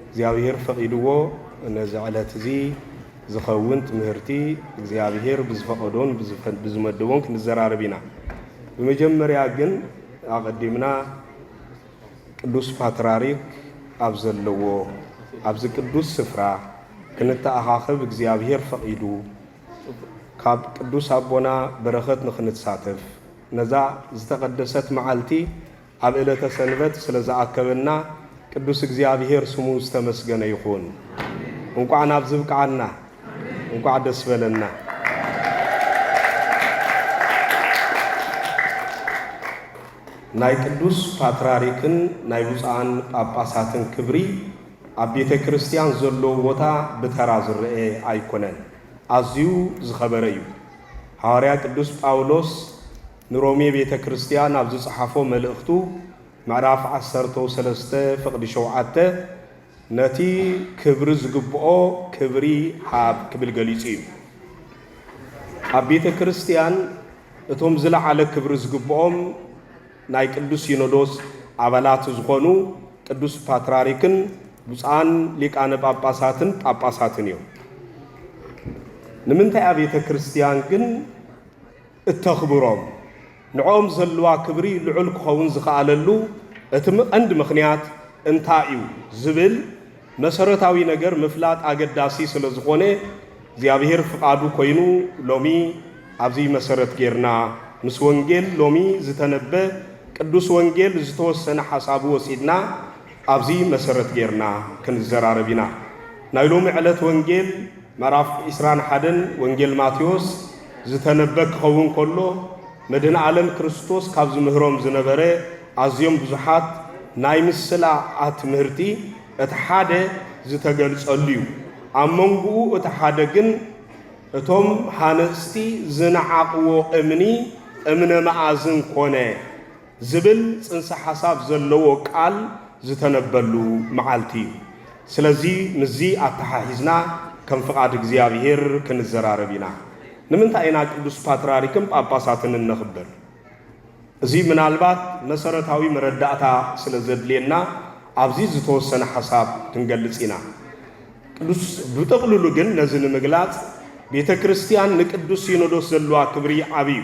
እግዚኣብሄር ፈቒድዎ ነዚ ዕለት እዚ ዝኸውን ትምህርቲ እግዚኣብሄር ብዝፈቐዶን ብዝመደቦን ክንዘራረብ ኢና። ብመጀመርያ ግን ኣቐዲምና ቅዱስ ፓትራሪክ ኣብ ዘለዎ ኣብዚ ቅዱስ ስፍራ ክንተኣኻኸብ እግዚኣብሄር ፈቒዱ ካብ ቅዱስ ኣቦና በረኸት ንክንሳተፍ ነዛ ዝተቐደሰት መዓልቲ ኣብ እለተ ሰንበት ስለ ዝኣከበና ቅዱስ እግዚኣብሔር ስሙ ዝተመስገነ ይኹን እንቋዕ ናብዚ ብቅዓና እንቋዕ ደስ በለና። ናይ ቅዱስ ፓትራሪክን ናይ ብፁዓን ጳጳሳትን ክብሪ ኣብ ቤተ ክርስቲያን ዘለዎ ቦታ ብተራ ዝረኤ ኣይኮነን፣ ኣዝዩ ዝኸበረ እዩ። ሃዋርያ ቅዱስ ጳውሎስ ንሮሜ ቤተ ክርስቲያን ኣብ ዝጸሓፎ መልእኽቱ ምዕራፍ ዓሰርተው ሰለስተ ፍቕዲ ሸውዓተ ነቲ ክብሪ ዝግብኦ ክብሪ ሃብ ክብል ገሊጹ እዩ። ኣብ ቤተ ክርስቲያን እቶም ዝለዓለ ክብሪ ዝግብኦም ናይ ቅዱስ ሲኖዶስ ኣባላት ዝኾኑ ቅዱስ ፓትራሪክን ብፁዓን ሊቃነ ጳጳሳትን ጳጳሳትን እዮም። ንምንታይ ኣብ ቤተ ክርስቲያን ግን እተኽብሮም፣ ንዕኦም ዘሎዋ ክብሪ ልዑል ክኸውን ዝኸኣለሉ እቲ ቀንዲ ምኽንያት እንታይ እዩ ዝብል መሰረታዊ ነገር ምፍላጥ ኣገዳሲ ስለ ዝኾነ፣ እግዚኣብሄር ፍቓዱ ኮይኑ ሎሚ ኣብዚ መሰረት ጌርና ምስ ወንጌል ሎሚ ዝተነበ ቅዱስ ወንጌል ዝተወሰነ ሓሳቡ ወሲድና ኣብዚ መሰረት ጌርና ክንዘራረብ ኢና። ናይ ሎሚ ዕለት ወንጌል። ምዕራፍ ዕስራን ሓደን ወንጌል ማቴዎስ ዝተነበ ክኸውን ከሎ፣ መድህን ዓለም ክርስቶስ ካብ ዝምህሮም ዝነበረ ኣዝዮም ብዙሓት ናይ ምስላ ኣትምህርቲ እቲ ሓደ ዝተገልጸሉ እዩ። ኣብ መንጎኡ እቲ ሓደ ግን እቶም ሃነጽቲ ዝነዓቕዎ እምኒ እምነ መኣዝን ኮነ። ዝብል ፅንሰ ሓሳብ ዘለዎ ቃል ዝተነበሉ መዓልቲ እዩ። ስለዚ ምስዚ ኣተሓሒዝና ከም ፍቓድ እግዚኣብሄር ክንዘራረብ ኢና። ንምንታይ ኢና ቅዱስ ፓትርያርክን ጳጳሳትን እነኽብር? እዚ ምናልባት መሰረታዊ መረዳእታ ስለ ዘድልየና ኣብዚ ዝተወሰነ ሓሳብ ክንገልጽ ኢና። ቅዱስ ብጥቕልሉ ግን ነዚ ንምግላጽ ቤተ ክርስቲያን ንቅዱስ ሲኖዶስ ዘለዋ ክብሪ ዓቢ እዩ።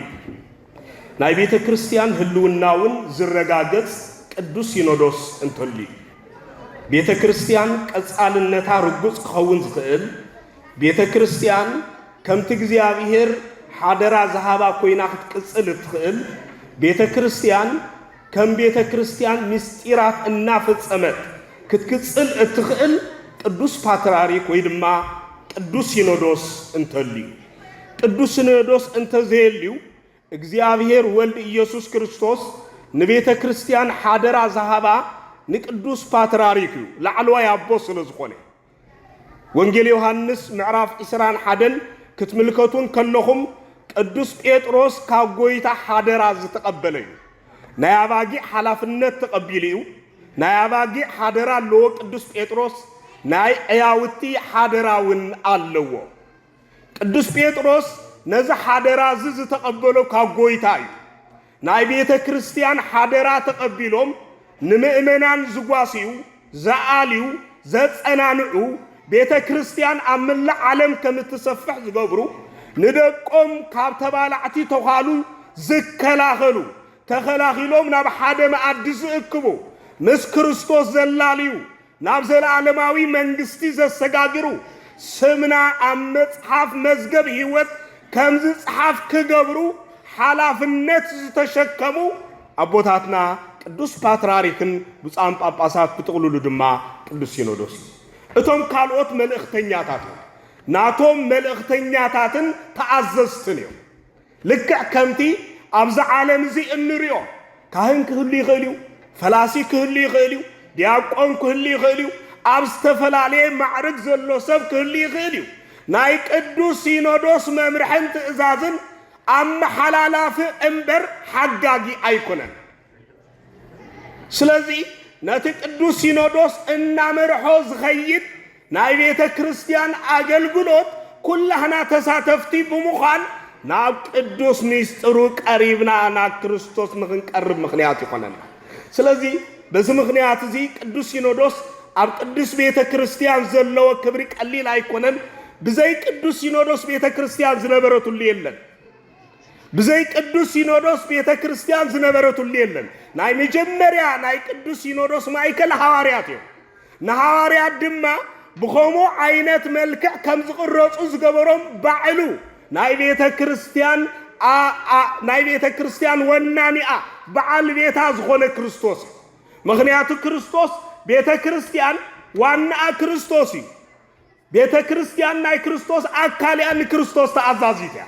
ናይ ቤተ ክርስቲያን ህልውና እውን ዝረጋገጽ ቅዱስ ሲኖዶስ እንተሉ እዩ። ቤተ ክርስቲያን ቀጻልነታ ርጉጽ ክኸውን ዝኽእል ቤተ ክርስቲያን ከምቲ እግዚኣብሔር ሓደራ ዝሃባ ኮይና ክትቅጽል እትኽእል ቤተ ክርስቲያን ከም ቤተ ክርስቲያን ምስጢራት እናፈጸመት ክትክጽል እትኽእል ቅዱስ ፓትርያርክ ወይ ድማ ቅዱስ ሲኖዶስ እንተልዩ ቅዱስ ሲኖዶስ እንተዘየልዩ እግዚኣብሔር ወልድ ኢየሱስ ክርስቶስ ንቤተ ክርስቲያን ሓደራ ዝሃባ ንቅዱስ ፓትርያርክ እዩ ላዕለዋይ ኣቦ ስለ ዝኾነ ወንጌል ዮሐንስ ምዕራፍ ዒስራን ሓደን ክትምልከቱን ከለኹም ቅዱስ ጴጥሮስ ካብ ጎይታ ሓደራ ዝተቐበለ እዩ። ናይ ኣባጊዕ ሓላፍነት ተቐቢሉ እዩ። ናይ ኣባጊዕ ሓደራ ኣለዎ ቅዱስ ጴጥሮስ፣ ናይ ዕያውቲ ሓደራ እውን ኣለዎ። ቅዱስ ጴጥሮስ ነዚ ሓደራ እዚ ዝተቐበሎ ካብ ጐይታ እዩ። ናይ ቤተ ክርስቲያን ሓደራ ተቐቢሎም ንምእመናን ዝጓስዩ፣ ዝኣልዩ፣ ዘጸናንዑ፣ ቤተ ክርስቲያን ኣብ መላእ ዓለም ከም እትሰፍሕ ዝገብሩ፣ ንደቆም ካብ ተባላዕቲ ተዃሉ ዝከላኸሉ፣ ተኸላኺሎም ናብ ሓደ መኣዲ ዝእክቡ፣ ምስ ክርስቶስ ዘላልዩ፣ ናብ ዘለኣለማዊ መንግስቲ ዘሰጋግሩ ስምና ኣብ መጽሓፍ መዝገብ ህይወት ከም ዝጽሓፍ ክገብሩ ሓላፍነት ዝተሸከሙ ኣቦታትና ቅዱስ ፓትራሪክን ብፁዓን ጳጳሳት ብጥቕሉሉ ድማ ቅዱስ ሲኖዶስ እዩ። እቶም ካልኦት መልእኽተኛታት እውን ናቶም መልእኽተኛታትን ተኣዘዝትን እዮም። ልክዕ ከምቲ ኣብዚ ዓለም እዚ እንሪኦ ካህን ክህሉ ይኽእል እዩ፣ ፈላሲ ክህሉ ይኽእል እዩ፣ ዲያቆን ክህሉ ይኽእል እዩ፣ ኣብ ዝተፈላለየ ማዕርግ ዘሎ ሰብ ክህሉ ይኽእል እዩ። ናይ ቅዱስ ሲኖዶስ መምርሕን ትእዛዝን ኣመሓላላፊ እምበር ሓጋጊ ኣይኮነን። ስለዚ ነቲ ቅዱስ ሲኖዶስ እናመርሖ ዝኸይድ ናይ ቤተ ክርስቲያን ኣገልግሎት ኩላህና ተሳተፍቲ ብምዃን ናብ ቅዱስ ሚስጥሩ ቀሪብና ናብ ክርስቶስ ንኽንቀርብ ምኽንያት ይኾነና። ስለዚ በዚ ምኽንያት እዚ ቅዱስ ሲኖዶስ ኣብ ቅዱስ ቤተ ክርስቲያን ዘለዎ ክብሪ ቀሊል ኣይኮነን። ብዘይ ቅዱስ ሲኖዶስ ቤተ ክርስቲያን ዝነበረትሉ የለን። ብዘይ ቅዱስ ሲኖዶስ ቤተ ክርስቲያን ዝነበረትሉ የለን። ናይ መጀመርያ ናይ ቅዱስ ሲኖዶስ ማእከል ሃዋርያት እዮም። ንሃዋርያት ድማ ብኸምኡ ዓይነት መልክዕ ከም ዝቕረጹ ዝገበሮም ባዕሉ ናይ ቤተ ክርስቲያን ናይ ቤተ ክርስቲያን ወናኒኣ በዓል ቤታ ዝኾነ ክርስቶስ እዩ። ምክንያቱ ክርስቶስ ቤተ ክርስቲያን ዋናኣ ክርስቶስ እዩ። ቤተ ክርስቲያን ናይ ክርስቶስ ኣካል እያ፣ ንክርስቶስ ተኣዛዚት እያ።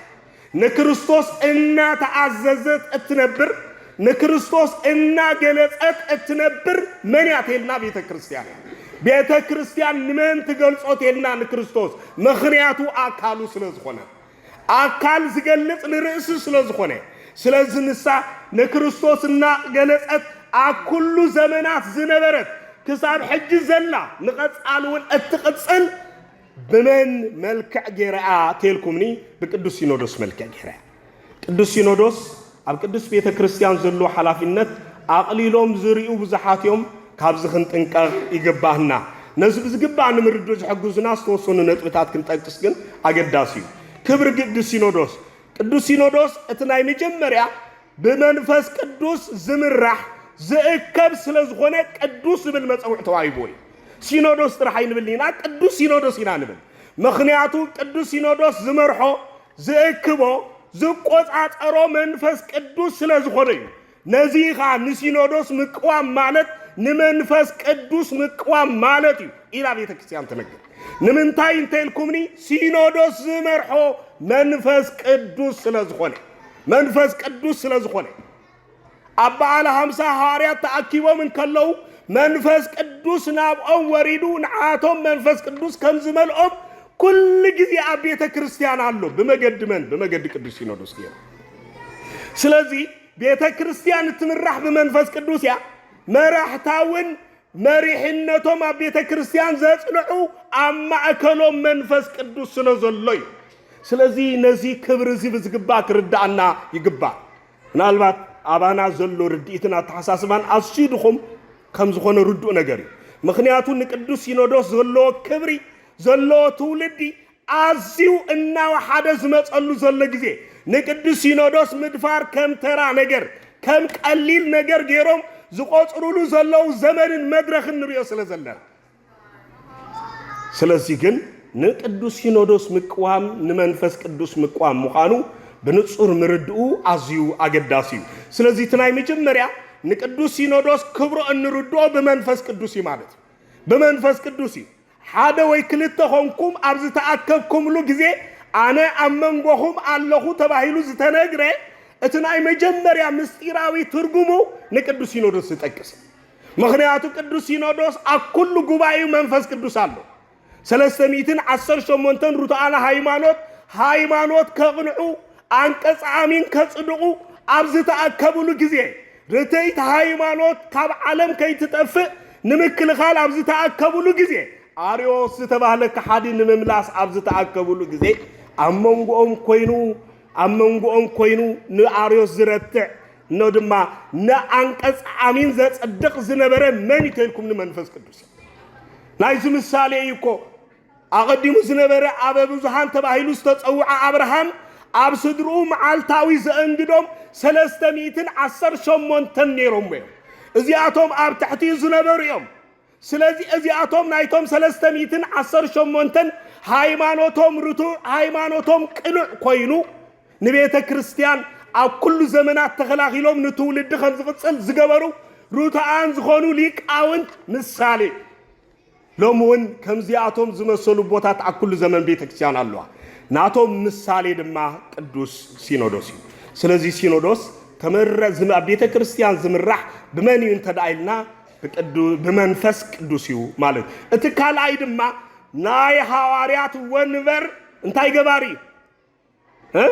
ንክርስቶስ እናተኣዘዘት እትነብር፣ ንክርስቶስ እናገለጸት እትነብር መን እያ ተልና ቤተ ክርስቲያን እያ። ቤተ ክርስቲያን ንመን ትገልጾ ተልና ንክርስቶስ፣ ምኽንያቱ ኣካሉ ስለ ዝኾነት። ኣካል ዝገልጽ ንርእሲ ስለ ዝኾነ። ስለዚ ንሳ ንክርስቶስ እናቕገለጸት ኣብ ኩሉ ዘመናት ዝነበረት ክሳብ ሕጂ ዘላ ንቐጻሊ እውን እትቕጽል ብመን መልክዕ ጌራ እያ እቴልኩምኒ ብቅዱስ ሲኖዶስ መልክዕ ጌራ እያ። ቅዱስ ሲኖዶስ ኣብ ቅድስት ቤተ ክርስቲያን ዘሎ ሓላፊነት ኣቕሊሎም ዝሪኡ ብዙሓት እዮም፣ ካብዚ ክንጥንቀቕ ይግባህና። ነዚ ብዝግባእ ንምርድእ ዝሕግዙና ዝተወሰኑ ነጥብታት ክንጠቅስ ግን ኣገዳሲ እዩ። ክብሪ ግዲ ሲኖዶስ ቅዱስ ሲኖዶስ እቲ ናይ መጀመርያ ብመንፈስ ቅዱስ ዝምራሕ ዝእከብ ስለ ዝኾነ ቅዱስ ዝብል መጸውዕ ተዋሂብዎ እዩ። ሲኖዶስ ጥራሕ ኣይንብልን ኢና፣ ቅዱስ ሲኖዶስ ኢና ንብል። ምክንያቱ ቅዱስ ሲኖዶስ ዝመርሖ ዝእክቦ ዝቆጻጸሮ መንፈስ ቅዱስ ስለ ዝኾነ እዩ። ነዚ ኸኣ ንሲኖዶስ ምቅዋም ማለት ንመንፈስ ቅዱስ ምቅዋም ማለት እዩ ኢላ ቤተ ክርስቲያን ትነግር። ንምንታይ እንተልኩምኒ ሲኖዶስ ዝመርሖ መንፈስ ቅዱስ ስለ ዝኾነ መንፈስ ቅዱስ ስለ ዝኾነ ኣብ በዓለ ሃምሳ ሃዋርያት ተኣኪቦም እንከለዉ መንፈስ ቅዱስ ናብኦም ወሪዱ ንዓቶም መንፈስ ቅዱስ ከም ዝመልኦም ኩሉ ግዜ ኣብ ቤተ ክርስቲያን ኣሎ ብመገዲ መን ብመገዲ ቅዱስ ሲኖዶስ ገይሩ ስለዚ ቤተ ክርስቲያን እትምራሕ ብመንፈስ ቅዱስ እያ መራሕታ እውን መሪሕነቶም ኣብ ቤተ ክርስቲያን ዘጽንዑ ኣብ ማእከሎም መንፈስ ቅዱስ ስለ ዘሎ እዩ ስለዚ ነዚ ክብሪ እዚ ብዝግባእ ክርዳእና ይግባእ ምናልባት ኣባና ዘሎ ርድኢትን ኣተሓሳስባን ኣዝዩ ድኹም ከም ዝኾነ ርዱእ ነገር እዩ። ምኽንያቱ ንቅዱስ ሲኖዶስ ዘለዎ ክብሪ ዘለዎ ትውልዲ ኣዝዩ እናወሓደ ዝመጸሉ ዘሎ ግዜ ንቅዱስ ሲኖዶስ ምድፋር ከም ተራ ነገር ከም ቀሊል ነገር ገይሮም ዝቆጽሩሉ ዘለዉ ዘመንን መድረኽን ንሪኦ ስለ ዘለና ስለዚ ግን ንቅዱስ ሲኖዶስ ምቅዋም ንመንፈስ ቅዱስ ምቅዋም ምዃኑ ብንጹር ምርድኡ ኣዝዩ ኣገዳሲ እዩ። ስለዚ እቲ ናይ መጀመርያ ንቅዱስ ሲኖዶስ ክብሮ እንርድኦ ብመንፈስ ቅዱስ እዩ ማለት እዩ። ብመንፈስ ቅዱስ እዩ። ሓደ ወይ ክልተ ኾንኩም ኣብ ዝተኣከብኩምሉ ግዜ ኣነ ኣብ መንጎኹም ኣለኹ ተባሂሉ ዝተነግረ እቲ ናይ መጀመርያ ምስጢራዊ ትርጉሙ ንቅዱስ ሲኖዶስ ዝጠቅስ ምኽንያቱ ቅዱስ ሲኖዶስ ኣብ ኩሉ ጉባኤኡ መንፈስ ቅዱስ ኣሎ። ሰለስተ ሚእትን ዓሰርተ ሸሞንተን ርቱዓነ ሃይማኖት ሃይማኖት ከቕንዑ ኣንቀጸ ኣሚን ከጽድቑ ኣብ ዝተኣከብሉ ግዜ ርትዕት ሃይማኖት ካብ ዓለም ከይትጠፍእ ንምክልኻል ኣብ ዝተኣከብሉ ግዜ ኣርዮስ ዝተባህለ ከሓዲ ንምምላስ ኣብ ዝተኣከብሉ ግዜ ኣብ መንጎኦም ኮይኑ ኣብ መንጎኦም ኮይኑ ንኣርዮስ ዝረትዕ ኖ ድማ ንኣንቀጽ ኣሚን ዘጽድቕ ዝነበረ መን እዩ ተልኩም ንመንፈስ ቅዱስ ናይዚ ምሳሌ እዩ እኮ ኣቐዲሙ ዝነበረ ኣበ ብዙሃን ተባሂሉ ዝተጸውዐ ኣብርሃም ኣብ ስድርኡ መዓልታዊ ዘእንግዶም ሰለስተ ሚእትን ዓሰርተ ሸሞንተን ነይሮም እዮም እዚኣቶም ኣብ ትሕቲኡ ዝነበሩ እዮም ስለዚ እዚኣቶም ናይቶም ሰለስተ ሚእትን ዓሰርተ ሸሞንተን ሃይማኖቶም ርቱዕ ሃይማኖቶም ቅኑዕ ኮይኑ ንቤተ ክርስቲያን ኣብ ኩሉ ዘመናት ተኸላኺሎም ንትውልዲ ከም ዝቕጽል ዝገበሩ ርቱዓን ዝኾኑ ሊቃውንት ምሳሌ ሎሚ እውን ከምዚኣቶም ዝመሰሉ ቦታት ኣብ ኩሉ ዘመን ቤተ ክርስቲያን ኣለዋ ናቶም ምሳሌ ድማ ቅዱስ ሲኖዶስ እዩ ስለዚ ሲኖዶስ ተመረ ኣብ ቤተ ክርስቲያን ዝምራሕ ብመን እዩ እንተደኣ ኢልና ብቅዱ ብመንፈስ ቅዱስ እዩ ማለት እቲ ካልኣይ ድማ ናይ ሃዋርያት ወንበር እንታይ ገባሪ እዩ እ?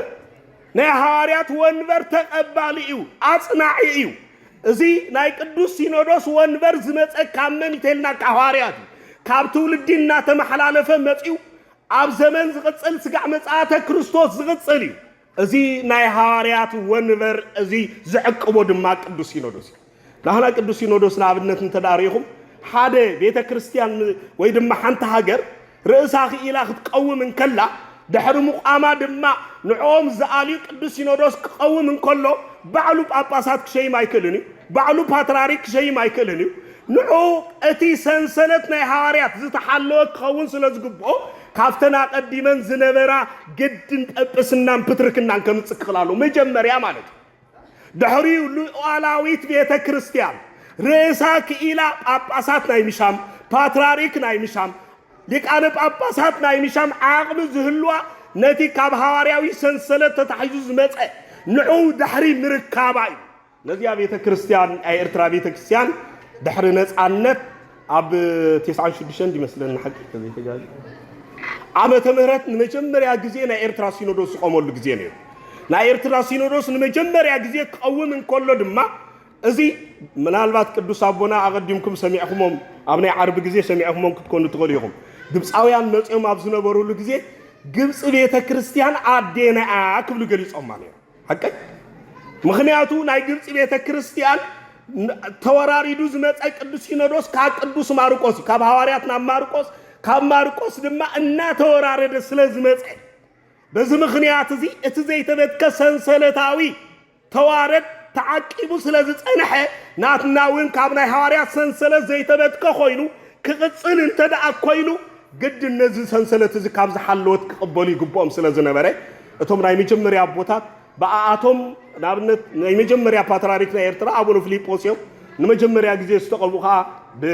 ናይ ሃዋርያት ወንበር ተቐባሊ እዩ ኣጽናዒ እዩ እዚ ናይ ቅዱስ ሲኖዶስ ወንበር ዝመፀ ካብ መን ይተልና ካብ ሃዋርያት እዩ ካብ ትውልዲ እናተመሓላለፈ መፅኡ ኣብ ዘመን ዝቕፅል ስጋዕ መጽኣተ ክርስቶስ ዝቕፅል እዩ እዚ ናይ ሃዋርያት ወንበር እዚ ዝዕቅቦ ድማ ቅዱስ ሲኖዶስ እዩ። ናህና ቅዱስ ሲኖዶስ ንኣብነት እንተ ርኢኹም ሓደ ቤተ ክርስቲያን ወይ ድማ ሓንቲ ሃገር ርእሳ ክኢላ ክትቀውም እንከላ ድሕሪ ምቋማ ድማ ንዕኦም ዝኣልዩ ቅዱስ ሲኖዶስ ክቐውም እንከሎ ባዕሉ ጳጳሳት ክሸይም ኣይክእልን እዩ። ባዕሉ ፓትርያርክ ክሸይም ኣይክእልን እዩ። ንዑ እቲ ሰንሰለት ናይ ሃዋርያት ዝተሓለወ ክኸውን ስለ ዝግብኦ ካብተን ኣቐዲመን ዝነበራ ግድን ጰጵስናን ፕትርክናን ከምጽእ ክኽል ኣለዎ፣ መጀመርያ ማለት እዩ። ድሕሪኡ ሉኣላዊት ቤተ ክርስቲያን ርእሳ ክኢላ ጳጳሳት ናይ ምሻም፣ ፓትራሪክ ናይ ምሻም፣ ሊቃነ ጳጳሳት ናይ ምሻም ዓቕሚ ዝህልዋ ነቲ ካብ ሃዋርያዊ ሰንሰለት ተታሒዙ ዝመጸ ንዕኡ ድሕሪ ምርካባ እዩ። ነዚኣ ቤተ ክርስቲያን ናይ ኤርትራ ቤተ ክርስቲያን ድሕሪ ነጻነት ኣብ ቴስዓን ሽዱሽተን እንዲመስለኒ ሓቂ ተዘይተጋዝ ዓመተ ምህረት ንመጀመርያ ግዜ ናይ ኤርትራ ሲኖዶስ ዝቆመሉ ግዜ ነይሩ ናይ ኤርትራ ሲኖዶስ ንመጀመርያ ግዜ ክቐውም እንከሎ ድማ እዚ ምናልባት ቅዱስ ኣቦና ኣቐዲምኩም ሰሚዕኹሞም ኣብ ናይ ዓርቢ ግዜ ሰሚዕኹሞም ክትኮኑ ትኽእሉ ኢኹም ግብፃውያን መፅኦም ኣብ ዝነበሩሉ ግዜ ግብፂ ቤተ ክርስቲያን ኣዴና ክብሉ ገሊፆማ ነይሩ ሓቀይ ምክንያቱ ናይ ግብፂ ቤተ ክርስቲያን ተወራሪዱ ዝመፀ ቅዱስ ሲኖዶስ ካብ ቅዱስ ማርቆስ እዩ ካብ ሃዋርያት ናብ ማርቆስ ካብ ማርቆስ ድማ እናተወራረደ ስለ ዝመፀ በዚ ምክንያት እዚ እቲ ዘይተበትከ ሰንሰለታዊ ተዋረድ ተዓቂቡ ስለ ዝፀንሐ ናትና እውን ካብ ናይ ሃዋርያት ሰንሰለት ዘይተበትከ ኮይኑ ክቕፅል እንተ ደኣ ኮይኑ ግድን ነዚ ሰንሰለት እዚ ካብ ዝሓለወት ክቕበሉ ይግብኦም ስለ ዝነበረ፣ እቶም ናይ መጀመርያ ኣቦታት ብኣኣቶም ንኣብነት ናይ መጀመርያ ፓትርያርክ ናይ ኤርትራ ኣቡነ ፍሊጶስ እዮም። ንመጀመርያ ግዜ ዝተቐብኡ ከኣ ብ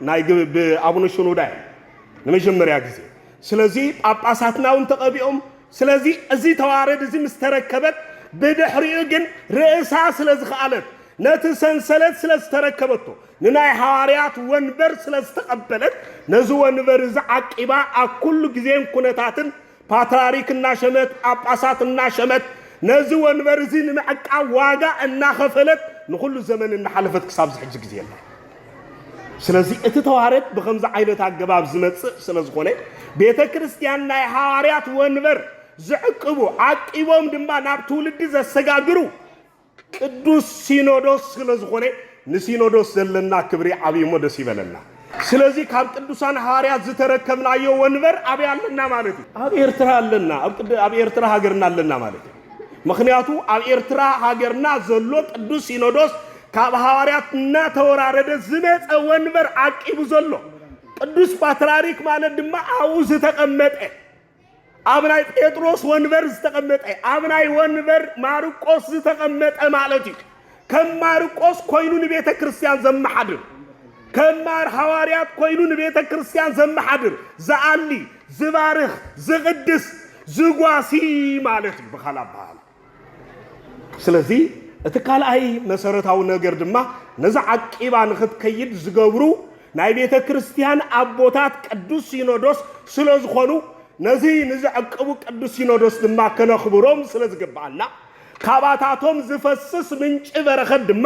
ናይ ግ ብ ኣቡነ ሽኖዳ እዮም ንመጀመርያ ግዜ። ስለዚ ጳጳሳትና እውን ተቐቢኦም። ስለዚ እዚ ተዋረድ እዚ ምስ ተረከበት ብድሕሪኡ ግን ርእሳ ስለ ዝኸኣለት ነቲ ሰንሰለት ስለ ዝተረከበቶ ንናይ ሃዋርያት ወንበር ስለ ዝተቐበለት ነዚ ወንበር እዚ ዓቂባ ኣብ ኩሉ ግዜን ኩነታትን ፓትራሪክ እናሸመት ጳጳሳት እናሸመት ነዚ ወንበር እዚ ንምዕቃብ ዋጋ እናኸፈለት ንኹሉ ዘመን እናሓለፈት ክሳብ ዝሕጂ ግዜ ኣላ። ስለዚ እቲ ተዋረድ ብከምዚ ዓይነት ኣገባብ ዝመጽእ ስለ ዝኾነ ቤተ ክርስቲያን ናይ ሃዋርያት ወንበር ዝዕቅቡ ዓቂቦም ድማ ናብ ትውልዲ ዘሰጋግሩ ቅዱስ ሲኖዶስ ስለ ዝኾነ ንሲኖዶስ ዘለና ክብሪ ዓብዩሞ ደስ ይበለና ስለዚ ካብ ቅዱሳን ሃዋርያት ዝተረከብናዮ ወንበር ኣበይ ኣለና ማለት እዩ ኣብ ኤርትራ ኣለና ኣብ ቅድ ኣብ ኤርትራ ሃገርና ኣለና ማለት እዩ ምኽንያቱ ኣብ ኤርትራ ሃገርና ዘሎ ቅዱስ ሲኖዶስ ካብ ሃዋርያት እናተወራረደ ዝመጸ ወንበር ዓቂቡ ዘሎ ቅዱስ ፓትርያርክ ማለት ድማ ኣብኡ ዝተቐመጠ ኣብ ናይ ጴጥሮስ ወንበር ዝተቐመጠ ኣብ ናይ ወንበር ማርቆስ ዝተቐመጠ ማለት እዩ። ከም ማርቆስ ኮይኑ ንቤተ ክርስቲያን ዘመሓድር ከም ማር ሃዋርያት ኮይኑ ንቤተ ክርስቲያን ዘመሓድር ዝኣሊ ዝባርኽ ዝቕድስ ዝጓሲ ማለት እዩ ብኻል ኣበሃላ ስለዚ እቲ ካልኣይ መሰረታዊ ነገር ድማ ነዚ ዓቂባ ንክትከይድ ዝገብሩ ናይ ቤተ ክርስቲያን ኣቦታት ቅዱስ ሲኖዶስ ስለ ዝኾኑ ነዚ ንዘዕቅቡ ቅዱስ ሲኖዶስ ድማ ከነኽብሮም ስለ ዝግብኣና ካባታቶም ዝፈስስ ምንጪ በረኸት ድማ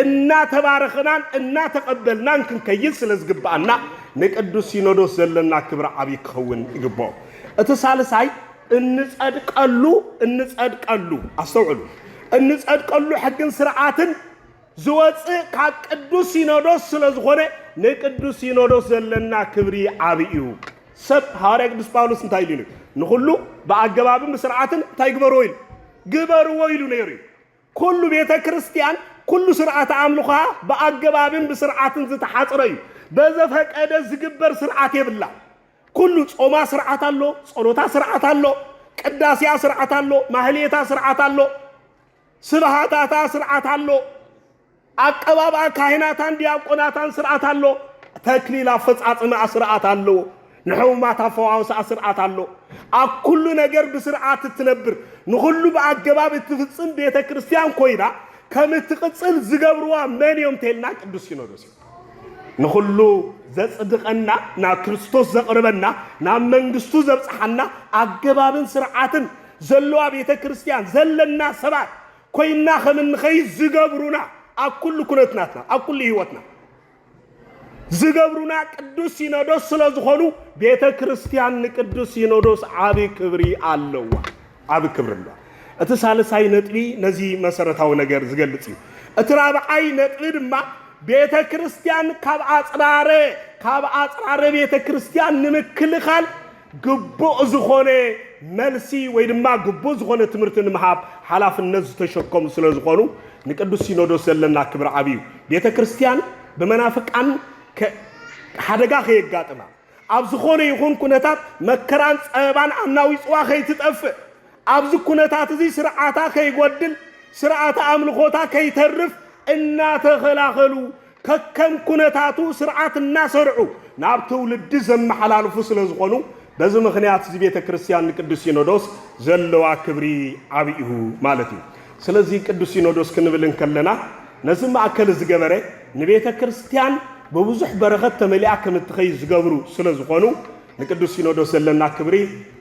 እናተባረኽናን እናተቐበልናን ክንከይድ ስለ ዝግብኣና ንቅዱስ ሲኖዶስ ዘለና ክብሪ ዓብዪ ክኸውን ይግብኦ። እቲ ሳልሳይ እንጸድቀሉ እንጸድቀሉ ኣስተውዕሉ እንጸድቀሉ ሕግን ስርዓትን ዝወጽእ ካብ ቅዱስ ሲኖዶስ ስለ ዝኾነ ንቅዱስ ሲኖዶስ ዘለና ክብሪ ዓብ እዩ ሰብ ሃዋርያ ቅዱስ ጳውሎስ እንታይ ኢሉ ንኹሉ ብኣገባብን ብስርዓትን እንታይ ግበርዎ ኢሉ ግበርዎ ኢሉ ነይሩ እዩ ኩሉ ቤተ ክርስቲያን ኩሉ ስርዓት ኣምልኾ ብኣገባብን ብስርዓትን ዝተሓጽረ እዩ በዘፈቀደ ዝግበር ስርዓት የብላ ኩሉ ጾማ ስርዓት ኣሎ፣ ጸሎታ ስርዓት ኣሎ፣ ቅዳሴያ ስርዓት ኣሎ፣ ማህሌታ ስርዓት ኣሎ፣ ስብሃታታ ስርዓት ኣሎ፣ ኣቀባብኣ ካህናታን ዲያቆናታን ስርዓት ኣሎ፣ ተክሊል ኣፈጻጽምኣ ስርዓት ኣለዎ፣ ንሕሙማት ኣፈዋውስኣ ስርዓት ኣሎ። ኣብ ኩሉ ነገር ብስርዓት እትነብር፣ ንኹሉ ብኣገባብ እትፍጽም ቤተ ክርስቲያን ኮይና ከም እትቕጽል ዝገብርዋ መን እዮም እንተልና ቅዱስ ሲኖዶስ ንኹሉ ዘጽድቐና ናብ ክርስቶስ ዘቕርበና ናብ መንግስቱ ዘብጽሓና ኣገባብን ስርዓትን ዘለዋ ቤተ ክርስቲያን ዘለና ሰባት ኮይና ከም እንኸይድ ዝገብሩና ኣብ ኩሉ ኩነትናትና ኣብ ኩሉ ህይወትና ዝገብሩና ቅዱስ ሲኖዶስ ስለ ዝኾኑ ቤተ ክርስቲያን ንቅዱስ ሲኖዶስ ዓቢ ክብሪ ኣለዋ። ዓቢ ክብሪ ኣሎ። እቲ ሳልሳይ ነጥቢ ነዚ መሰረታዊ ነገር ዝገልጽ እዩ። እቲ ራብዓይ ነጥቢ ድማ ቤተ ክርስቲያን ካብ ኣጽራረ ካብ ኣጽራረ ቤተ ክርስቲያን ንምክልኻል ግቡእ ዝኾነ መልሲ ወይ ድማ ግቡእ ዝኾነ ትምህርቲ ንምሃብ ሓላፍነት ዝተሸከሙ ስለ ዝኾኑ ንቅዱስ ሲኖዶስ ዘለና ክብሪ ዓብዩ ቤተ ክርስቲያን ብመናፍቃን ሓደጋ ከየጋጥማ ኣብ ዝኾነ ይኹን ኩነታት መከራን ጸበባን ኣናዊጽዋ ከይትጠፍእ፣ ኣብዚ ኩነታት እዚ ስርዓታ ከይጎድል፣ ስርዓተ ኣምልኾታ ከይተርፍ እናተኸላኸሉ ከከም ኩነታቱ ስርዓት እናሰርዑ ናብ ትውልዲ ዘመሓላልፉ ስለ ዝኾኑ በዚ ምኽንያት እዚ ቤተ ክርስቲያን ንቅዱስ ሲኖዶስ ዘለዋ ክብሪ ዓብዩ ማለት እዩ። ስለዚ ቅዱስ ሲኖዶስ ክንብል እንከለና ነዚ ማእከል ዝገበረ ንቤተ ክርስቲያን ብብዙሕ በረኸት ተመሊኣ ከም እትኸይድ ዝገብሩ ስለ ዝኾኑ ንቅዱስ ሲኖዶስ ዘለና ክብሪ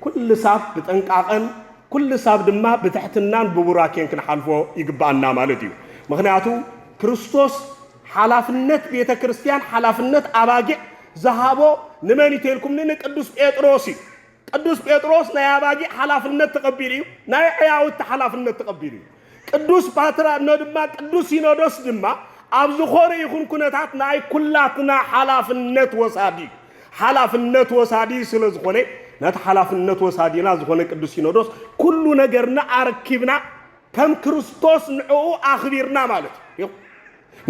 ኩልሳብ ብጠንቃቐን ኩልሳብ ድማ ብትሕትናን ብቡራኬን ክንሓልፎ ይግብኣና ማለት እዩ። ምኽንያቱ ክርስቶስ ሓላፍነት ቤተ ክርስቲያን ሓላፍነት ኣባጊዕ ዝሃቦ ንመን እዩ ተልኩምኒ ንቅዱስ ጴጥሮስ እዩ። ቅዱስ ጴጥሮስ ናይ ኣባጊዕ ሓላፍነት ተቐቢሉ እዩ፣ ናይ ዕያውቲ ሓላፍነት ተቐቢሉ እዩ። ቅዱስ ፓትራ እኖ ድማ ቅዱስ ሲኖዶስ ድማ ኣብ ዝኾነ ይኹን ኩነታት ናይ ኩላትና ሓላፍነት ወሳዲ እዩ። ሓላፍነት ወሳዲ ስለ ዝኾነ ነቲ ሓላፍነት ወሳዲና ዝኾነ ቅዱስ ሲኖዶስ ኩሉ ነገርና ኣረኪብና ከም ክርስቶስ ንዕኡ ኣኽቢርና ማለት እዩ።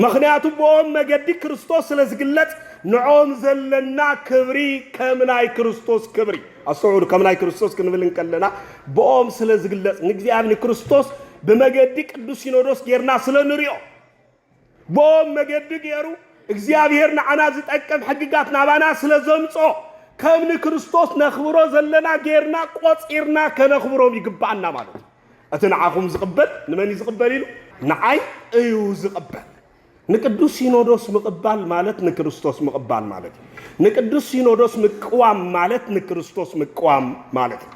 ምኽንያቱ ብኦም መገዲ ክርስቶስ ስለ ዝግለጽ ንዕኦም ዘለና ክብሪ ከም ናይ ክርስቶስ ክብሪ፣ ኣስተውዕሉ ከም ናይ ክርስቶስ ክንብል እንከለና ብኦም ስለ ዝግለጽ ንእግዚኣብሔር ንክርስቶስ ብመገዲ ቅዱስ ሲኖዶስ ጌርና ስለ ንሪኦ ብኦም መገዲ ጌሩ እግዚኣብሔር ንዓና ዝጠቅም ሕግጋት ናባና ስለ ዘምጾ ከም ንክርስቶስ ነኽብሮ ዘለና ጌርና ቆጺርና ከነኽብሮም ይግብኣና ማለት እዩ። እቲ ንዓኹም ዝቕበል ንመን እዩ ዝቕበል ኢሉ? ንዓይ እዩ ዝቕበል። ንቅዱስ ሲኖዶስ ምቕባል ማለት ንክርስቶስ ምቕባል ማለት እዩ። ንቅዱስ ሲኖዶስ ምቅዋም ማለት ንክርስቶስ ምቅዋም ማለት እዩ።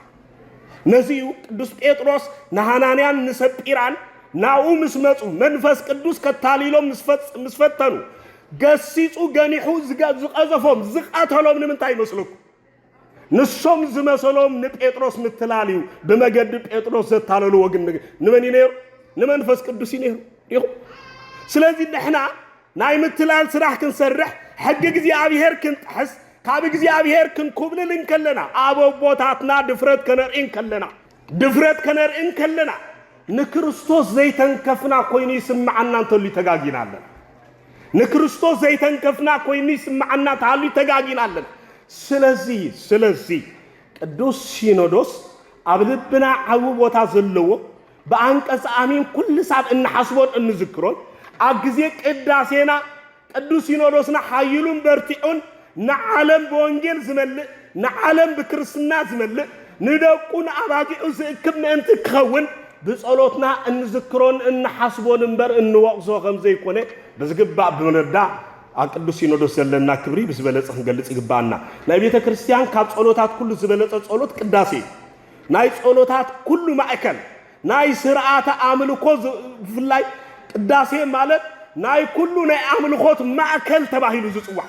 ነዚ እዩ ቅዱስ ጴጥሮስ ንሃናንያን ንሰጲራን ናብኡ ምስ መፁ መንፈስ ቅዱስ ከታሊሎም ምስ ፈጽ- ምስ ፈተኑ ገሲጹ ገኒሑ ዝገ- ዝቐዘፎም ዝቐተሎም ንምንታይ ይመስለኩም? ንሶም ዝመሰሎም ንጴጥሮስ ምትላል እዩ ብመገዲ ጴጥሮስ ዘታለልዎ ግን ንመን እዩ ነይሩ ንመንፈስ ቅዱስ እዩ ነይሩ ዲኹ ስለዚ ንሕና ናይ ምትላል ስራሕ ክንሰርሕ ሕጊ እግዚኣብሄር ክንጥሕስ ካብ እግዚኣብሄር ክንኩብልል እንከለና ኣብ ኣቦታትና ድፍረት ከነርኢ እንከለና ድፍረት ከነርኢ እንከለና ንክርስቶስ ዘይተንከፍና ኮይኑ ይስምዓና እንተልዩ ተጋጊና ኣለና። ንክርስቶስ ዘይተንከፍና ኮይኑ ይስምዓና ተሃልዩ ተጋጊና ኣለና። ስለዚ ስለዚ ቅዱስ ሲኖዶስ ኣብ ልብና ዓቢ ቦታ ዘለዎ ብኣንቀጽ ኣሚን ኩሉ ሳብ እንሓስቦን እንዝክሮን ኣብ ግዜ ቅዳሴና ቅዱስ ሲኖዶስና ሓይሉን በርቲዑን ንዓለም ብወንጌል ዝመልእ፣ ንዓለም ብክርስትና ዝመልእ፣ ንደቁ ንኣባጊዑ ዝእክብ ምእንቲ ክኸውን ብጸሎትና እንዝክሮን እንሓስቦን እምበር እንወቕሶ ከም ዘይኮነ ብዝግባእ ብምርዳእ ኣብ ቅዱስ ሲኖዶስ ዘለና ክብሪ ብዝበለጸ ክንገልጽ ይግብኣና። ናይ ቤተ ክርስቲያን ካብ ጸሎታት ኩሉ ዝበለጸ ጸሎት ቅዳሴ እዩ። ናይ ጸሎታት ኩሉ ማእከል ናይ ስርዓተ ኣምልኮ ብፍላይ ቅዳሴ ማለት ናይ ኩሉ ናይ ኣምልኾት ማእከል ተባሂሉ ዝጽዋዕ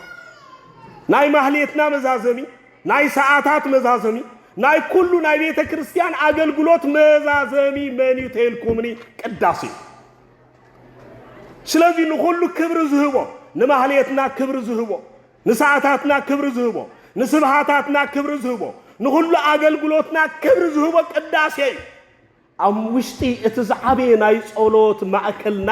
ናይ ማህሌትና መዛዘሚ ናይ ሰዓታት መዛዘሚ ናይ ኩሉ ናይ ቤተ ክርስቲያን ኣገልግሎት መዛዘሚ መን እዩ ተይልኩምኒ ቅዳሴ እዩ ስለዚህ ንኹሉ ክብሪ ዝህቦ ንማህሌትና ክብሪ ዝህቦ ንሰዓታትና ክብሪ ዝህቦ፣ ንስብሃታትና ክብሪ ዝህቦ፣ ንኹሉ ኣገልግሎትና ክብሪ ዝህቦ ቅዳሴ እዩ። ኣብ ውሽጢ እቲ ዝዓበየ ናይ ጸሎት ማእከልና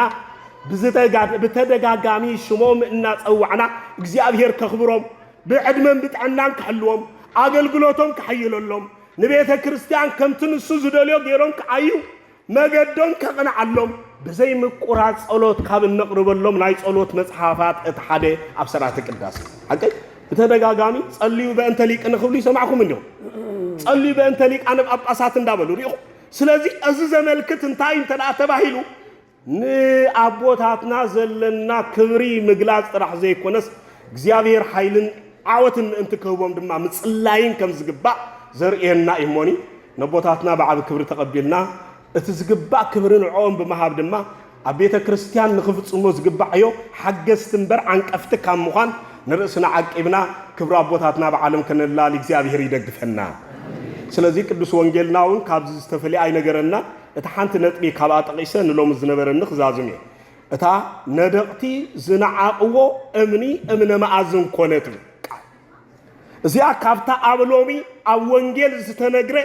ብተደጋጋሚ ሽሞም እናጸዋዕና እግዚኣብሔር ከኽብሮም፣ ብዕድመን ብጥዕናን ክሕልዎም፣ ኣገልግሎቶም ከሐይለሎም፣ ንቤተ ክርስቲያን ከምቲ ንሱ ዝደልዮ ገይሮም ክዓዩ መገዶም ከቕንዓሎም ብዘይ ምቁራጽ ጸሎት ካብ እነቕርበሎም ናይ ጸሎት መጽሓፋት እቲ ሓደ ኣብ ሠርዓተ ቅዳሴ እዩ። ሓቀይ? ብተደጋጋሚ ጸልዩ በእንተ ሊቅን ክብሉ ይሰማዕኩም እንዲኹም። ጸልዩ በእንተ ሊቃነ ጳጳሳት እንዳበሉ ርኢኹም። ስለዚ እዚ ዘመልክት እንታይ እዩ እንተ ተባሂሉ ንኣቦታትና ዘለና ክብሪ ምግላጽ ጥራሕ ዘይኮነስ እግዚኣብሔር ሓይልን ዓወትን ምእንቲ ክህቦም ድማ ምጽላይን ከም ዝግባእ ዘርእየና እዩ እሞኒ ነቦታትና ብዓቢ ክብሪ ተቐቢልና እቲ ዝግባእ ክብሪ ንዕኦም ብምሃብ ድማ ኣብ ቤተ ክርስቲያን ንኽፍጽሞ ዝግባዕዮ ሓገዝቲ እምበር ዓንቀፍቲ ካብ ምዃን ንርእስና ዓቂብና ክብሪ ኣቦታትና ብዓለም ከነላሊ እግዚኣብሔር ይደግፈና። ስለዚ ቅዱስ ወንጌልና እውን ካብዚ ዝተፈልየ ኣይነገረናን። እታ ሓንቲ ነጥቢ ካብኣ ጠቒሰ ንሎሚ ዝነበረኒ ክዛዝም እየ። እታ ነደቕቲ ዝነዓቕዎ እምኒ እምነ መኣዝን ኮነ ትብል ቃል። እዚኣ ካብታ ኣብ ሎሚ ኣብ ወንጌል ዝተነግረ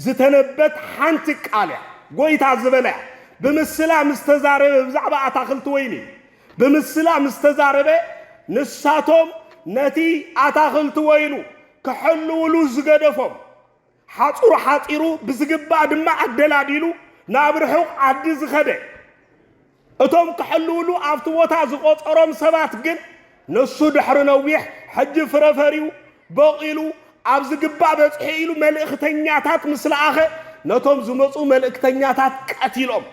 ዝተነበት ሓንቲ ቃል እያ ጎይታ ዝበላ እያ ብምስላ ምስ ተዛረበ ብዛዕባ ኣታኽልቲ ወይኒ እዩ ብምስላ ምስ ተዛረበ ንሳቶም ነቲ ኣታኽልቲ ወይኑ ክሕልውሉ ዝገደፎም ሓጹር ሓጺሩ ብዝግባእ ድማ ኣደላዲሉ ናብ ርሑቕ ዓዲ ዝኸደ እቶም ክሕልውሉ ኣብቲ ቦታ ዝቖጸሮም ሰባት ግን ንሱ ድሕሪ ነዊሕ ሕጂ ፍረ ፈርዩ በቒሉ ኣብ ዝግባእ በጺሑ ኢሉ መልእኽተኛታት ምስ ለኣኸ ነቶም ዝመጹ መልእክተኛታት ቀቲሎም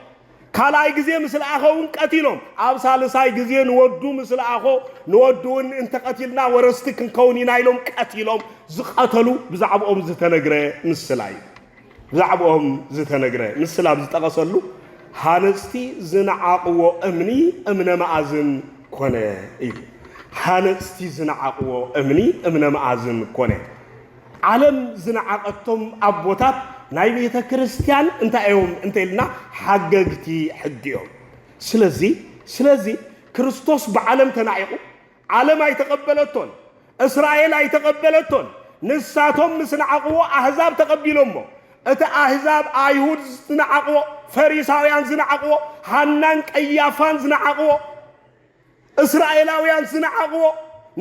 ካልኣይ ግዜ ምስ ለኣኸውን ቀቲሎም። ኣብ ሳልሳይ ግዜ ንወዱ ምስ ለኣኾ ንወዱውን እንተቐቲልና ወረስቲ ክንከውን ኢና ኢሎም ቀቲሎም ዝቐተሉ ብዛዕብኦም ዝተነግረ ምስላ እዩ። ብዛዕብኦም ዝተነግረ ምስላ ኣብ ዝጠቐሰሉ ሃነጽቲ ዝነዓቕዎ እምኒ እምነ መኣዝን ኮነ እዩ። ሃነጽቲ ዝነዓቕዎ እምኒ እምነ መኣዝን ኮነ። ዓለም ዝነዓቐቶም ኣቦታት ናይ ቤተ ክርስቲያን እንታይ እዮም እንተኢልና ሓገግቲ ሕጊ እዮም። ስለዚ ስለዚ ክርስቶስ ብዓለም ተናዒቑ ዓለም ኣይተቐበለቶን፣ እስራኤል ኣይተቐበለቶን። ንሳቶም ምስ ነዓቕዎ ኣህዛብ ተቐቢሎሞ። እቲ ኣህዛብ ኣይሁድ ዝነዓቕዎ፣ ፈሪሳውያን ዝነዓቕዎ፣ ሃናን ቀያፋን ዝነዓቕዎ፣ እስራኤላውያን ዝነዓቕዎ፣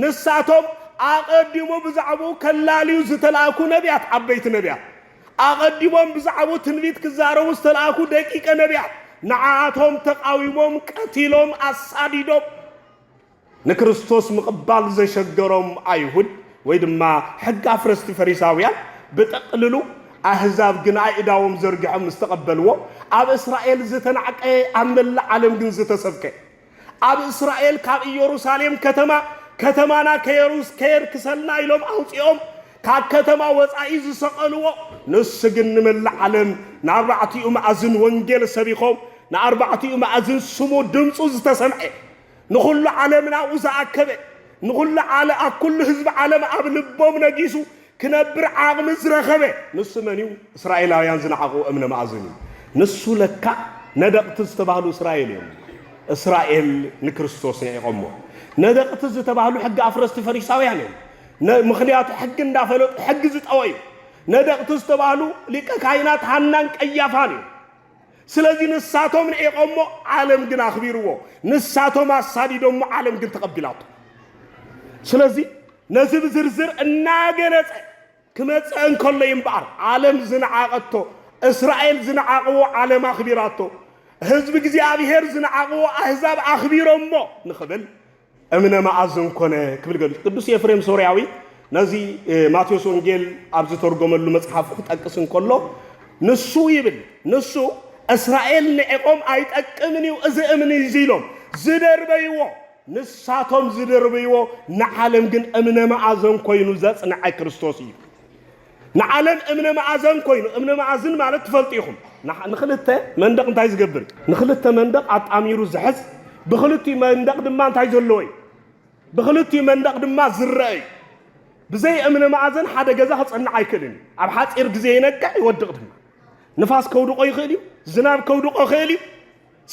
ንሳቶም ኣቐዲሙ ብዛዕባኡ ከላልዩ ዝተላእኩ ነብያት፣ ዓበይቲ ነብያት፣ ኣቐዲሞም ብዛዕባኡ ትንቢት ክዛረቡ ዝተላእኩ ደቂቀ ነብያት፣ ንዓኣቶም ተቓዊሞም፣ ቀቲሎም፣ ኣሳዲዶም፣ ንክርስቶስ ምቕባል ዘሸገሮም ኣይሁድ ወይ ድማ ሕጊ ኣፍረስቲ ፈሪሳውያን ብጠቕልሉ፣ ኣህዛብ ግን ኣእዳዎም ዘርጊሖም ምስተቐበልዎ፣ ኣብ እስራኤል ዝተናዕቀ፣ ኣብ መላእ ዓለም ግን ዝተሰብከ። ኣብ እስራኤል ካብ እዮሩሳሌም ከተማ ከተማና ከየሩስ ከየርክሰልና ኢሎም ኣውጺኦም ካብ ከተማ ወጻኢ ዝሰቐልዎ ንሱ ግን ንመላእ ዓለም ንኣርባዕቲኡ መኣዝን ወንጌል ሰቢኾም ንኣርባዕቲኡ መኣዝን ስሙ ድምጹ ዝተሰምዐ ንኹሉ ዓለም ናብኡ ዝኣከበ ንኹሉ ዓለ ኣብ ኩሉ ህዝቢ ዓለም ኣብ ልቦም ነጊሱ ክነብር ዓቕሚ ዝረኸበ ንሱ መን እዩ? እስራኤላውያን ዝነዓቕዎ እምነ መኣዝን እዩ። ንሱ ለካ ነደቕቲ ዝተባህሉ እስራኤል እዮም። እስራኤል ንክርስቶስ ነዒቖሞ። ነደቕቲ ዝተባህሉ ሕጊ ኣፍረስቲ ፈሪሳውያን እዮም። ነ- ምኽንያቱ ሕጊ እንዳፈለጡ ሕጊ ዝጠወዩ ነደቕቲ ዝተባህሉ ሊቀ ካህናት ሃናን ቀያፋን እዮም። ስለዚ ንሳቶም ንዒቐሞ ዓለም ግን ኣኽቢርዎ፣ ንሳቶም ኣሳዲዶሞ ዓለም ግን ተቐቢላቶ። ስለዚ ነዚ ብዝርዝር እናገለጸ ክመጽእ እንከሎ እምበኣር ዓለም ዝነዓቐቶ፣ እስራኤል ዝነዓቕዎ ዓለም ኣኽቢራቶ፣ ህዝቢ እግዚኣብሔር ዝነዓቕዎ ኣህዛብ ኣኽቢሮሞ ንኽብል እምነ መኣዝን ኮነ ክብል ገሊጹ። ቅዱስ ኤፍሬም ሶርያዊ ነዚ ማቴዎስ ወንጌል ኣብ ዝተርጎመሉ መጽሓፉ ክጠቅስ እንከሎ ንሱ ይብል ንሱ እስራኤል ንዕቆም ኣይጠቅምን እዩ እዚ እምኒ እዚ ኢሎም ዝደርበይዎ ንሳቶም ዝደርበይዎ ንዓለም ግን እምነ መኣዘን ኮይኑ ዘጽንዐ ክርስቶስ እዩ። ንዓለም እምነ መኣዘን ኮይኑ፣ እምነ መኣዝን ማለት ትፈልጡ ኢኹም፣ ንክልተ መንደቕ እንታይ ዝገብር እዩ? ንክልተ መንደቕ ኣጣሚሩ ዝሕዝ፣ ብክልቲኡ መንደቕ ድማ እንታይ ዘለዎ እዩ? ብክልቲኡ መንደቕ ድማ ዝረአ እዩ። ብዘይ እምነ መኣዘን ሓደ ገዛ ክጸንዕ ኣይክእልን እዩ። ኣብ ሓጺር ግዜ ይነቅዕ ይወድቕ ድማ። ንፋስ ከውድቆ ይኽእል እዩ፣ ዝናብ ከውድቆ ይኽእል እዩ፣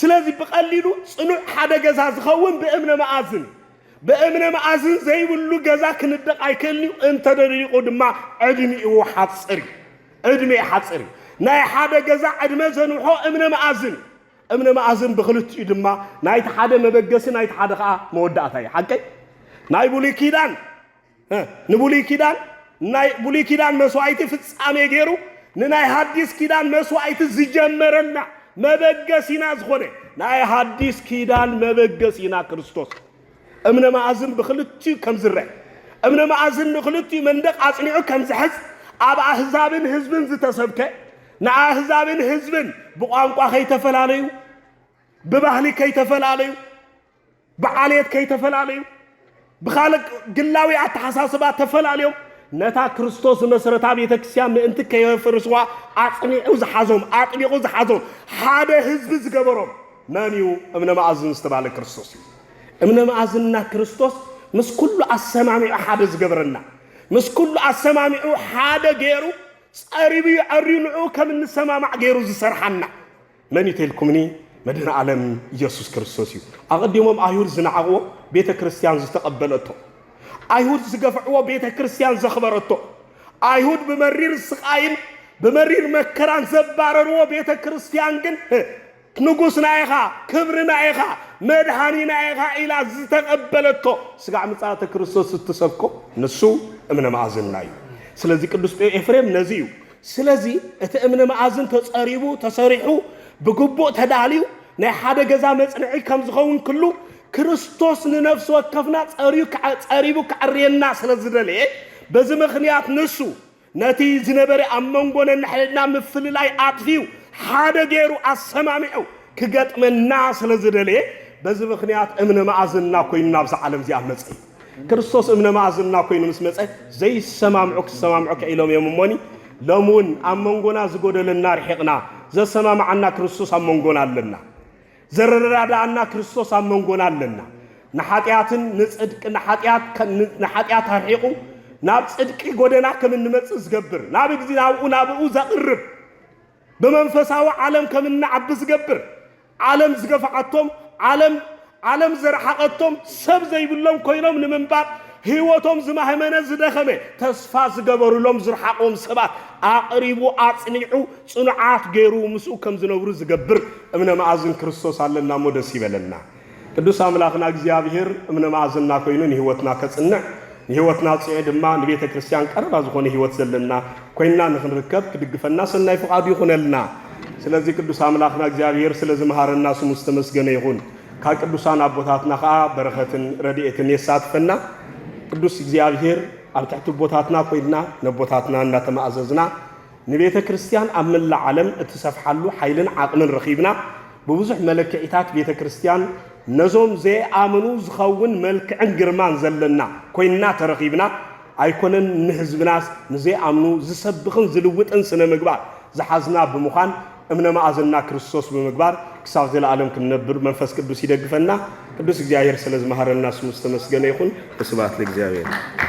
ስለዚ ብቐሊሉ ጽኑዕ ሓደ ገዛ ዝኸውን ብእምነ መኣዝን እዩ። ብእምነ መኣዝን ዘይብሉ ገዛ ክንደቕ ኣይክእልን እዩ፣ እንተ ደሊቑ ድማ ዕድሚኡ ሓጽር እዩ። ዕድሜ ሓጽር እዩ። ናይ ሓደ ገዛ ዕድመ ዘንውሖ እምነ መኣዝን እዩ። እምነ መኣዝን ብክልቲኡ ድማ ናይቲ ሓደ መበገሲ ናይቲ ሓደ ከኣ መወዳእታ እዩ። ሓቀይ ናይ ብሉይ ኪዳን ንብሉይ ኪዳን ናይ ብሉይ ኪዳን መስዋእቲ ፍጻሜ ገይሩ ንናይ ሃዲስ ኪዳን መስዋእቲ ዝጀመረልና መበገሲና ዝኾነ ናይ ሃዲስ ኪዳን መበገሲና ክርስቶስ እምነ መኣዝን ብክልቲኡ ከም ዝረአ እምነ መኣዝን ንክልቲኡ መንደቕ ኣጽኒዑ ከም ዝሕዝ ኣብ ኣህዛብን ህዝብን ዝተሰብከ ንኣህዛብን ህዝብን ብቋንቋ ከይተፈላለዩ ብባህሊ ከይተፈላለዩ ብዓሌት ከይተፈላለዩ ብኻልእ ግላዊ ኣተሓሳስባ ተፈላልዮም ነታ ክርስቶስ ዝመሰረታ ቤተ ክርስቲያን ምእንቲ ከየፍርስዋ ኣጽኒዑ ዝሓዞም ኣጥቢቑ ዝሓዞም ሓደ ህዝቢ ዝገበሮም መን እዩ? እምነ መኣዝን ዝተባህለ ክርስቶስ እዩ። እምነ መኣዝንና ክርስቶስ ምስ ኩሉ ኣሰማሚዑ ሓደ ዝገብረና ምስ ኩሉ ኣሰማሚዑ ሓደ ገይሩ ጸሪቡ እዩ ዐርዩ ንዕኡ ከም እንሰማማዕ ገይሩ ዝሰርሓና መን እዩ ተልኩምኒ መድህን ዓለም ኢየሱስ ክርስቶስ እዩ ኣቐዲሞም ኣይሁድ ዝነዓቕዎ ቤተ ክርስቲያን ዝተቐበለቶ ኣይሁድ ዝገፍዕዎ ቤተ ክርስቲያን ዘኽበረቶ ኣይሁድ ብመሪር ስቓይን ብመሪር መከራን ዘባረርዎ ቤተ ክርስቲያን ግን ንጉስና ኢኻ ክብርና ኢኻ መድሃኒና ኢኻ ኢላ ዝተቐበለቶ ስጋዕ ምጽኣተ ክርስቶስ እትሰብኮ ንሱ እምነ ማእዝና እዩ ስለዚ ቅዱስ ኤፍሬም ነዚ እዩ ስለዚ እቲ እምኒ መኣዝን ተፀሪቡ ተሰሪሑ ብግቡእ ተዳልዩ ናይ ሓደ ገዛ መፅንዒ ከምዝኸውን ክሉ ክርስቶስ ንነፍሲ ወከፍና ፀርዩ ፀሪቡ ከዕርየና ስለዝደለየ በዚ ምኽንያት ንሱ ነቲ ዝነበረ ኣብ መንጎ ነንሕድሕድና ምፍልላይ ኣጥፊኡ ሓደ ገይሩ ኣሰማሚዑ ክገጥመና ስለ ዝደለየ በዚ ምኽንያት እምነ መኣዝንና ኮይኑ ናብዛ ዓለም እዚኣ መጸ እዩ። ክርስቶስ እምነ መኣዝንና ኮይኑ ምስ መጸ ዘይሰማምዑ ክሰማምዑ ክኢሎም እዮም እሞኒ ሎሚ እውን ኣብ መንጎና ዝጎደለና ርሒቕና ዘሰማምዓና ክርስቶስ ኣብ መንጎና ኣለና። ዘረዳድኣና ክርስቶስ ኣብ መንጎና ኣለና። ንሓጢኣትን ንጽድቂ ንሓጢኣት ንሓጢኣት ኣርሒቑ ናብ ጽድቂ ጎደና ከም እንመጽእ ዝገብር ናብ እግዚ ናብኡ ናብኡ ዘቕርብ ብመንፈሳዊ ዓለም ከም እንዓቢ ዝገብር፣ ዓለም ዝገፍዓቶም፣ ዓለም ዓለም ዝረሓቐቶም፣ ሰብ ዘይብሎም ኮይኖም ንምንባር ህይወቶም ዝማህመነ ዝደኸመ፣ ተስፋ ዝገበሩሎም ዝርሓቑዎም ሰባት ኣቕሪቡ ኣጽኒዑ ጽኑዓት ገይሩ ምስኡ ከም ዝነብሩ ዝገብር እምነ መኣዝን ክርስቶስ ኣለና እሞ ደስ ይበለና። ቅዱስ ኣምላኽና እግዚኣብሔር እምነ ማእዝና ኮይኑ ንሕይወትና ከጽንዕ ንሕይወትና ጽዒ ድማ ንቤተ ክርስቲያን ቀረባ ዝኾነ ሕይወት ዘለና ኮይንና ንክንርከብ ክድግፈና ሰናይ ፍቓዱ ይኹነልና። ስለዚ ቅዱስ ኣምላኽና እግዚኣብሔር ስለ ዝመሃረና ስሙ ዝተመስገነ ይኹን። ካብ ቅዱሳን ኣቦታትና ከኣ በረኸትን ረድኤትን የሳትፈና። ቅዱስ እግዚኣብሔር ኣብ ትሕቲ ኣቦታትና ኮይንና ነቦታትና እናተማእዘዝና ንቤተ ክርስቲያን ኣብ መላእ ዓለም እትሰፍሓሉ ሓይልን ዓቕምን ረኺብና፣ ብብዙሕ መለክዒታት ቤተ ክርስቲያን ነዞም ዘይኣምኑ ዝኸውን መልክዕን ግርማን ዘለና ኮይንና ተረኺብና፣ ኣይኮነን ንህዝብናስ ንዘይኣምኑ ዝሰብኽን ዝልውጥን ስነ ምግባር ዝሓዝና ብምዃን እምነ መኣዝንና ክርስቶስ ብምግባር ክሳብ ዘለኣለም ክንነብር መንፈስ ቅዱስ ይደግፈና። ቅዱስ እግዚኣብሔር ስለ ዝመሃረና ስሙ ዝተመስገነ ይኹን። ወስብሐት ለእግዚኣብሔር።